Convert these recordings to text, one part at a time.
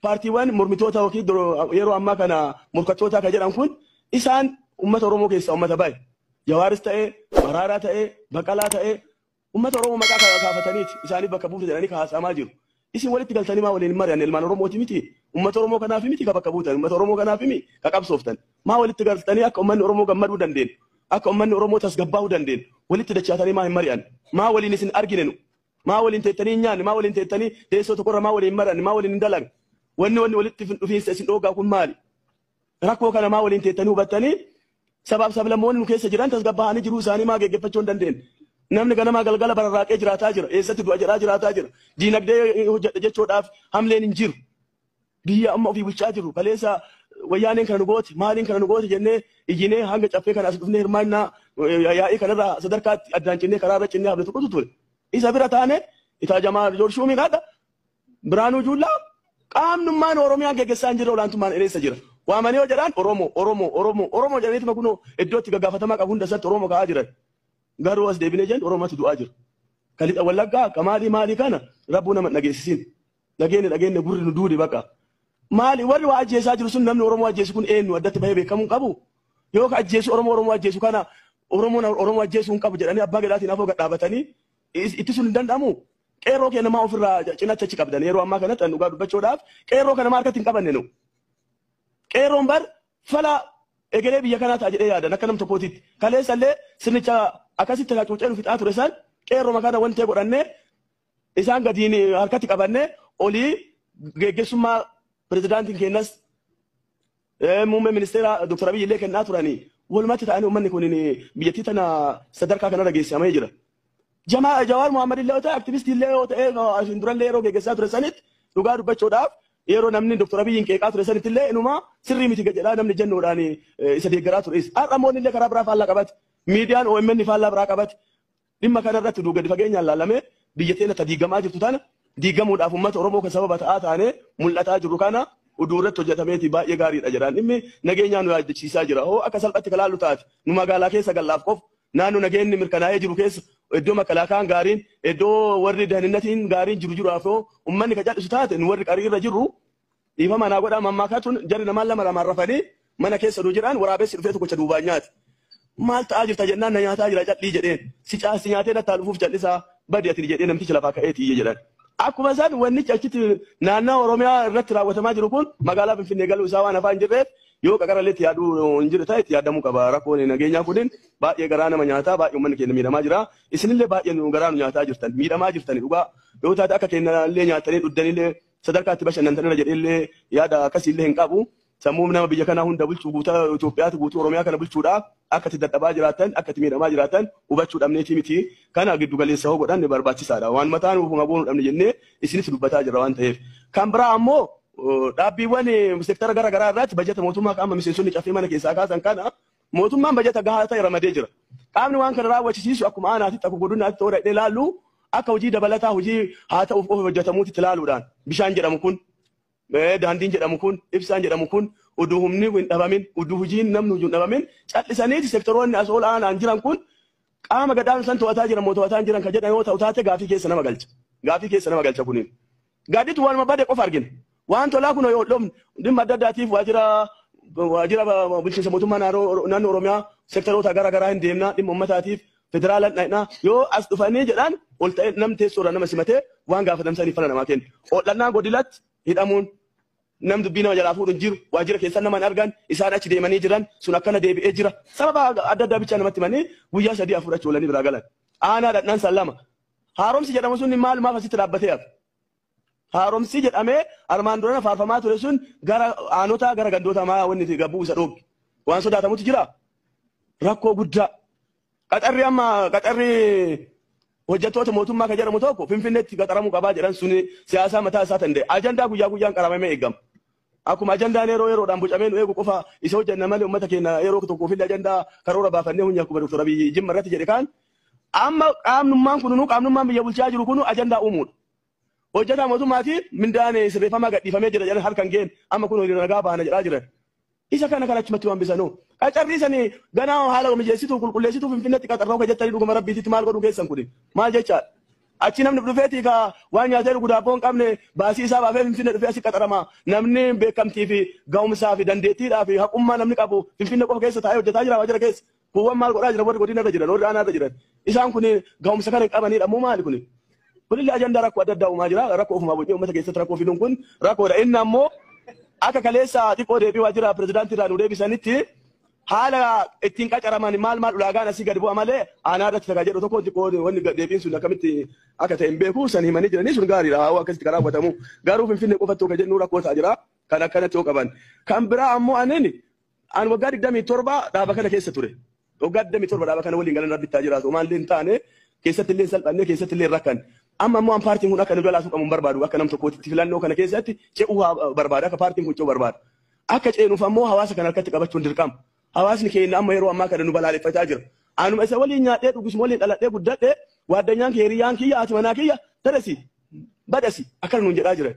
paartiiwwan mormitoota yookiin doro- yeroo ammaa kana morkattootaa kan jedhan kun isaan uummata Oromoo keessaa uummata baay'e. Jawaaris ta'ee, Maraaraa ta'ee, Baqalaa ta'ee Ummata Oromoo maqaa ka, kaafataniit isaaniif bakka buuta jedhanii ka haasa'amaa jiru. Isin walitti galtanii maa waliin hin mari'anne ilmaan Oromooti miti? Ummata Oromoo kanaafi miti ka bakka buutan? Ummata Oromoo kanaafi mi ka qabsooftan? Maa walitti galtanii akka ummanni Oromoo gammaduu dandeennu, akka ummanni Oromoo tasgabbaa'uu dandeennu walitti dachaatanii maa hin mari'anne? Maa waliin isin argine nu? Maa waliin teettanii hin nyaanne? Maa waliin teettanii teessoo tokkorra maa waliin hin mari'anne? Maa waliin hin dalagne? Wanni wanni walitti dhufiinsa isin dhoogaa kun maali? Rakkoo kana maa waliin teettanii hubattanii sabaaf sablammoonni nu keessa jiran tasgabbaa'anii jiruu isaanii maa geeggeffachuu hin dandeenye? Namni ganamaa galgala bararraaqee jiraataa jira. Eessatti du'a jedhaa jiraataa jira. Diinagdee hojjedha jechuudhaaf hamleen hin jiru. Biyya amma ofii bulchaa jiru kaleessa wayyaaneen kana nu goote maaliin kana nu goote jennee iyyinee hanga caffee kana as dhufnee hirmaannaa yaa'ii kanarra sadarkaatti addaan cinnee karaa irra cinnee hafne tokkotu ture. Isa bira taane itaa jamaa joorshuumiin haadha Biraanuu Juullaa qaamnummaan Oromiyaa geggessaa hin jirre olaantummaan ereessa jira. Waamanii yoo jedhaan Oromoo, Oromoo, Oromoo, Oromoo jedhaniituma kunoo iddootti gaggaafatamaa qabu hunda isaatti Oromoo ka'aa jiran. Garuu as deebinee jennu Oromootu du'aa jira. Ka lixa wallaggaa ka maalii maalii kana rabbuu nama hin dhageessisin. Dhageenne dhageenne gurri nu duude baqa. Maali warri waa ajjeesaa jiru sun namni Oromoo ajjeesu kun eenyu addatti bahee beekamuu hin qabu. Yoo ka ajjeesu Oromoo Oromoo ajjeesu kana Oromoon Oromoo ajjeesuu hin qabu jedhanii abbaa gadaatiin afoo gad dhaabatanii is- ittisuun hin danda'amu. Qeerroo kee namaa ofirraa cinatti achi qabdan yeroo ammaa kanatti an dhugaa dubbachuudhaaf qeerroo kana maa harkatti hin qabanne nu. Qeerroon bar fala egeree biyya kanaa ta'a jedhee yaadan akka nam tokkootitti. Kaleessallee sirnicha akkasitti hacuucee nu fixaa ture san qeerroo makaana wantee godhanne isaan gadiin harkatti qabanne olii geggeessummaa pirezidaantiin keenyas Muummee ministeera Dr. Abiy illee kennaa turanii walumatti ta'anii uummanni kun biyyattii tana sadarkaa kanarra geessamee jira. Jamaa Jawaar Muhammad illee yoo ta'e aktivistii illee yoo ta'e asiin durallee yeroo geggeessaa ture sanitti dhugaa dubbachuudhaaf yeroo namni Dr. Abiyyiin qeeqaa ture sanitti illee inuma sirrii miti jedhaa namni jennuudhaan isa deeggaraa ture. Har'a moonni illee karaa biraa faallaa qabate. Miidiyaan OMN faallaa biraa qabate. Dhimma kana irratti uduu gadi fageenyaan laalamee biyya teenna ta diiggamaa jirtu tana diiggamuudhaaf ummata Oromoo ka sababa ta'aa taanee mul'ataa jirru kana uduu irratti hojjatameetii baay'ee gaarii dha jedhaan. Dhimmi nageenyaa nu yaaddachiisaa jira. Hoo akka salphatti ka laallu taate nu magaalaa keessa gallaaf qofa naannoo nageenni mirkanaa'ee jiru keessa iddoo makalaakayaan gaariin iddoo warri dahininnatiin gaariin jiru jiraaf hoo ummanni ka cadhisu taate nu warri qarii irra jirru Dhiifama naa godhaa mammaakaa tun jarri namaan lama lamaan rafanii mana keessa oduu jiraan waraabessi dhufee tokkocha duubaan nyaate. Maal ta'aa jirta jennaan na nyaataa jira cadhii jedheen. Si caasti nyaatee nattaa dhufuuf callisaa badi ati jedhee namtichi lafaa ka'ee tiyye jedhan. Akkuma isaan wannichi achitti naannaa Oromiyaa irratti raawwatamaa jiru kun magaalaa Finfinnee galuu isaa waan afaan jirreef yoo qaqarallee itti yaaduu hin jiru ta'e itti yaadamuu qaba. Rakkoon nageenyaa kunin baay'ee garaa nama nyaataa baay'ee uummanni keenya miidhamaa jira. Isinillee baay'ee nu garaa nu nyaataa jirtan miidhamaa jirtani dhugaa yoo taate akka keenya illee nyaattanii dhugdanillee Sadarkaa itti bashannantan irra jedhee illee yaada akkasii illee hin qabu. Sammuu nama biyya kanaa hunda bulchuu guutaa Itoophiyaatu guutuu Oromiyaa kana bulchuudha. Akka itti dadhabaa jiraatan, akka itti miidhamaa jiraatan hubachuu dhabneetii miti. Kana giddu galeessa hoo godhanne barbaachisaadha. Waan mataa nuuf huma goonu dhabne jennee isinitti dubbataa jirra waan ta'eef. Kan biraa ammoo dhaabbiiwwan sektara gara garaa irraatti bajata mootummaa qaama miseensonni caffee mana keessaa kaasan kana Mootummaan bajata gahaa ta'e ramadee jira. Qaamni waan kana raawwachisiisu akkuma aanaatitti akkuma godinaatti ta'uu dhaqnee ilaallu akka hojii dabalataa hojii haa ta'uuf qofa hojjetamuutti ilaaluudhaan bishaan jedhamu kun daandiin jedhamu kun ibsaan jedhamu kun uduu humni hin dhabamin uduu hojiin namni hojii hin dhabamin cal'isaniiti sektoroonni as ol aanaan jiran kun qaama gadaan san to'ataa jiran moo to'ataa hin jiran kan jedhan yoo ta'u taate gaafii keessa nama galcha. Gaafii keessa nama galcha kuniin. Gaadditu waanuma bade qofa argina. Waan tolaa kun yoo dhoofne dhimma adda addaatiif waajjira waajjira bulchiinsa mootummaa naannoo Oromiyaa sektaroota gara garaa hin deemna dhimma uummataatiif federaalaan dhaqna yoo as dhufanii jedhaan ol ta'ee nam teessoo irraa nama simatee waan gaafatamsaniif fala namaa kenna. Ool'annaa godilatti hidhamuun nam dubbii nama jalaa fuudhu hin jiru waajjira keessan nama hin argan isaan achi deemanii jiran sun akkana deebi'ee jira sababa adda addaa bichaa namatti himanii guyyaa sadii afur achi oolanii biraa galan. Aanaa dhaqnaan san lama Haaromsi jedhamu sun maalumaaf asitti dhaabbatee hafe? Haaromsi jedhamee armaan durana faarfamaa ture sun gara aanotaa gara gandootaa maa wanni itti gabbuu isa dhoobge? Waan sodaatamutu jira? Rakkoo guddaa. Qaxarri amma qaxarri hojjettoota mootummaa kan jedhamu tokko Finfinneetti qaxaramuu qabaa jedhan sun siyaasaa mataa isaa danda'e. Ajandaa guyyaa guyyaan qaramamee eegama. Akkuma ajandaan yeroo yeroodhaan bocamee nu eegu qofa isa hojjenna malee uummata keenya yeroo tokkoofillee ajandaa karoora baafannee hunyi akkuma Dr. Abiyyi Jimma irratti jedhe kaan amma qaamnummaan kununuu qaamnummaan biyya bulchaa jiru kunu ajandaa uumuudha. Hojjetaa mootummaatiif mindaan sirreeffamaa gadhiifamee jira jedhan halkan ga'een amma kun hiriira nagaa baana jedhaa jiran. Isa kana kan achumatti waan bisanuu. Qacarrii sani ganaa haala mijeessituu qulqulleessituu finfinneetti qaxarroo hojjettanii dhuguma rabbiititti maal godhuu keessan kuni maal jechaadha. Achii namni dhufeetii ka waan nyaatee dhugu daabboo hin qabne baasii isaa baafee Finfinnee dhufee asi qaxarama. Namni beekamtii fi ga'umsaa fi dandeettiidhaa fi haqummaa namni qabu Finfinnee qofa keessa taa'ee hojjetaa jira waajjira keessa. Kuuwwan maal godhaa jiran warri godina irra jiran warri aanaa irra jiran. Isaan kun ga'umsa kana hin qabaniidha moo maali kuni? Kunillee ajandaa rakkoo adda addaa uumaa jira. Rakkoo ofumaa bocnee uummata keessatti rakkoo fiduun kun rakkoodha. Inni ammoo akka kaleessa xiqqoo deebii waajjira pirezidaantii irraa nu deebisanitti Haala ittiin qacaraman maal maal ulaagaan asii gad bu'a malee aanaa irratti takaa jedhu tokko xiqqoo wanni deebiin sun akkamitti akka ta'e hin beeku san himanii jiranii sun gaariidha haawaa akkasitti kan raawwatamu garuu finfinnee qofatti akka jennu rakkoo ta'a jira kan akkanatti yoo qaban kan biraa ammoo anin an waggaa digdamii torba dhaaba kana keessa ture waggaa digdamii torba dhaaba kana waliin galan rabbittaa jiraatu maallee hin taane keessatti illee salphanne keessatti illee rakkan amma ammoo an paartiin kun akka nu jalaa tuqamu hin barbaadu akka nam tokkootti filannoo kana keessatti ce'uu barbaada akka paartiin kun ce'uu barbaada. Akka ceenuuf ammoo hawaasa kana harkatti qabachuun dirqama. Hawaasni keenna amma yeroo ammaa kana nu balaaleffataa jira. Anuma isa waliin nyaadhee dhugu isuma waliin dhaladhee guddadhe waaddanyaan kiyya hiriyyaan kiyya haati manaa kiyya taresi badasi akkana nuun jedhaa jiran.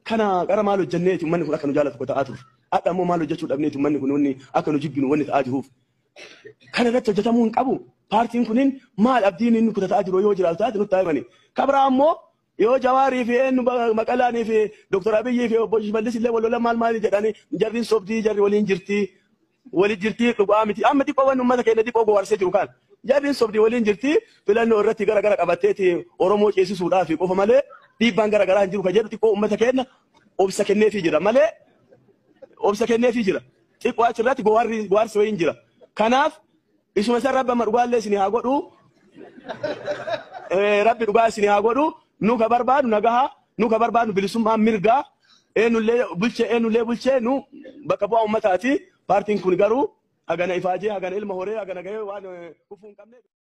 Kana qara maal hojjenneeti ummanni kun akka nu jaalatu kota'aa turre. Hadha ammoo maal hojjechuu dhabneeti ummanni kun wanni akka nu jibbinu wanni ta'aa jiruuf. Kana irratti hojjetamuu hin qabu. Paartiin kunin maal abdiin inni kutata'aa jiru yoo jiraatu taate nutti haa himani. Kabraa ammoo Yoo Jawaar fi eenyu Maqalaan fi Dr. Abiy fi Obbo Shimallis illee wal lolan maal maal jedhani jarri hin sobdii jarri waliin jirti wali jirti dhugaa miti amma xiqqoo waan uummata keenya xiqqoo gowaarsee jiru kaan jarri hin sobdii waliin jirti filannoo irratti gara gara qabatteeti Oromoo ceesisuudhaa fi qofa malee dhiibbaan gara garaa hin jiru kan jedhu xiqqoo uummata keenya obsa kenneefii jira malee obsa kenneefii jira xiqqoo achirratti gowaarri gowaarsi wayii hin jira kanaaf Isuma san rabbi amma dhugaallee isin haa godhu. Eh, Rabbi dhugaa isin haa godhu. Nu ka barbaadu nagaha, nu ka barbaadu bilisummaa mirgaa. Eenullee bulchee, eenullee bulchee nu bakka bu'aa uummataati. Paartiin kun garuu hagana ifaajee, hagana ilma horee, hagana gahee waan eh, kufuu hin qabne.